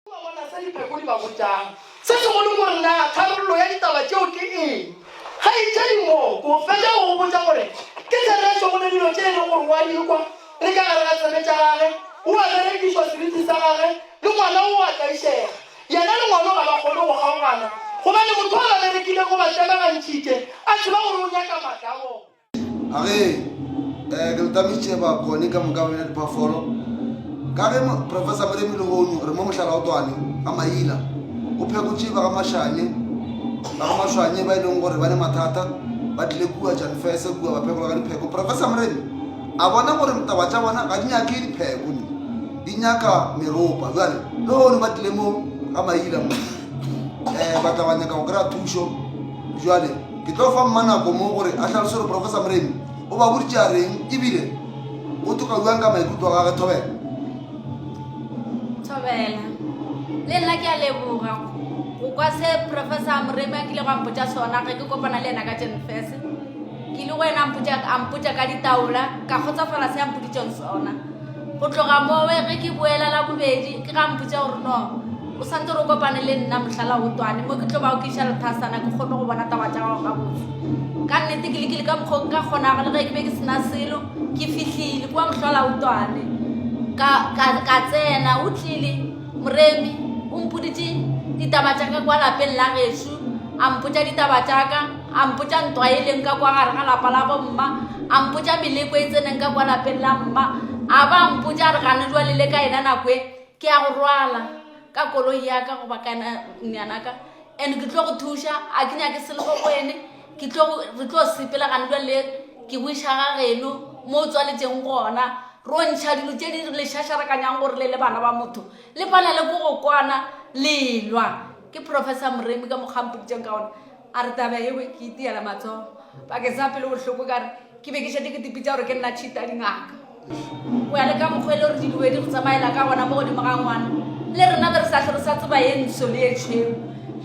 O a bona se Dipheku di ba botšago? Se segolo ke gore, Na tharollo ya ditaba tšeo ke eng? Kgaetšedi Mooko, fetša go go botša gore ke therešo go ne dilo tše e lego gore o a di kwa le ka gare ga tsebe tša gage, o a berekišwa seriti sa gage, le ngwana o a tlaišega. Yena le ngwano ga ba kgone go kgaogana, gobane motho a ba berekilego o ba tlemagantšhitše, a tseba gore o nyaka maatla a bona. A re, Ee, ke le tamišitše bakoni ka moka ba bina diphoofolo. Ka ge Professor Moremi lehono gore mo Mohlalaotwane ga Maila go phekotše ba ga Mashanye, ba ga Mashwanye ba e leng gore ba ne mathata ba tlile kua Janfese kua ba phekola ka dipheko. Professor Moremi a bona gore taba tša bona ga di nyake dipheko ni di nyaka meropa. Jwale lehono ba tlile mo ga Maila mo um ba tla ba nyaka go kry-a thušo jwale Ke tlo fa mma nako mo gore a hlalose gore Professor Moremi o ba boditše a reng ebile o tokauang ka maikutlo a gage Thobela. Thobela, le nna ke a leboga go kwa se Professor Moremi a kile go ampotša sona ge ke kopana le yena ka Jenfes. Ke ile go yena ampotša ka ditaola ka kgotsafala se ampoditšeng sona. go tloga mowe ge ke boela la bobedi ke ga mpotse gore no o sante re kopane le nna mohlala o twane mo ke tlo ba o ke iša lethasana ke kgone go bona taba tša gago gabotse ka nnete ke lekile ka mokgwa ka kgonago le ge ke be ke sena selo ke fihlile kua mohlala o twane ka tsena o tlile moremi o mpoditše ditaba tša ka kwa lapeng la gešu a mpotsa ditaba tša ka a mpotša ntwa e leng ka kwa gare ga lapa la bomma a mpotša meleko e tseneng ka kwa lapeng la mma a ba mpotša a re gane jwale le ka ena nako e ke ya go rwala ka koloi yaka goba kanyanaka and ke tlo go thuša a ke nyake selego go ene re tlo sepela gane jwale ke go iša ga geno mo o tswaletšeng gona ro ntšha dilo tse di le šašarekanyang gore le le bana ba motho le palele ko go kwana lelwa ke professor moremi ka mokgampoditseng ka ona A re taba yeo ke itiela matsogo bakeng sa pelo bohloko ka re ke be ke šetše ke dipitša gore ke nna tšhita dingaka. Go ya le ka mokgwa e le gore diloe di re tsamaela ka gona mo godimo ga ngwana, le rena be re sa hlore sa tseba ye ntsho le ye tšhweu.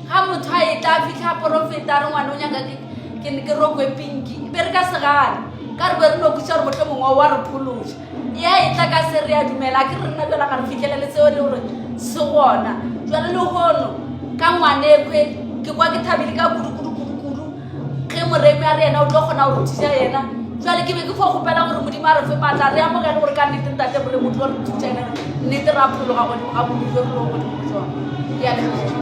Ga motho a etla a fihla a porofeta a re ngwana o nyaka ke rokwe pinki, be re ka se gane ka re be re no botšiša gore mohlomongwe o a re phološa. ya e tla ka se re ya dumela ke re nna jala ga re fitlhelele seo le gore se gona jalo le gono ka ngwanekwe ke kwa ke thabile ka kudukudukudukudu ge moremi a re yena o tlo kgona go rutisa yena jale ke be ke fo gopela gore modimo a re fe maatla re amogele gore ka nnete ntate gore motho wa re rutisa yena nnete ra phologa godimo ga bodujo re lo godimo jone ke a leboga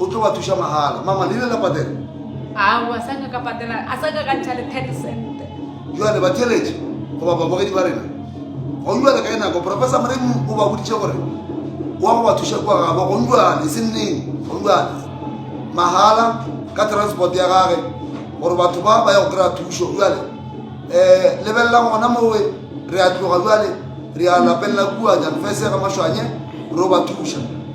o tlo ba thuša mahala mama le ile la patela ao a saka ka patela a saka ka ntšha le ten cent jale batheletše goba babogedi ba rena gonjale ka e nako professor moreng o ba boditše gore wa go ba thuša kua gabo gonjale e seng neng gonjale mahala ka transport ya gage gore batho ba ba ya go kry-a thušo jale um eh, lebelela gona mowe re a tloga jale re a lapelela kua janfese ga maswanye ro ba thuša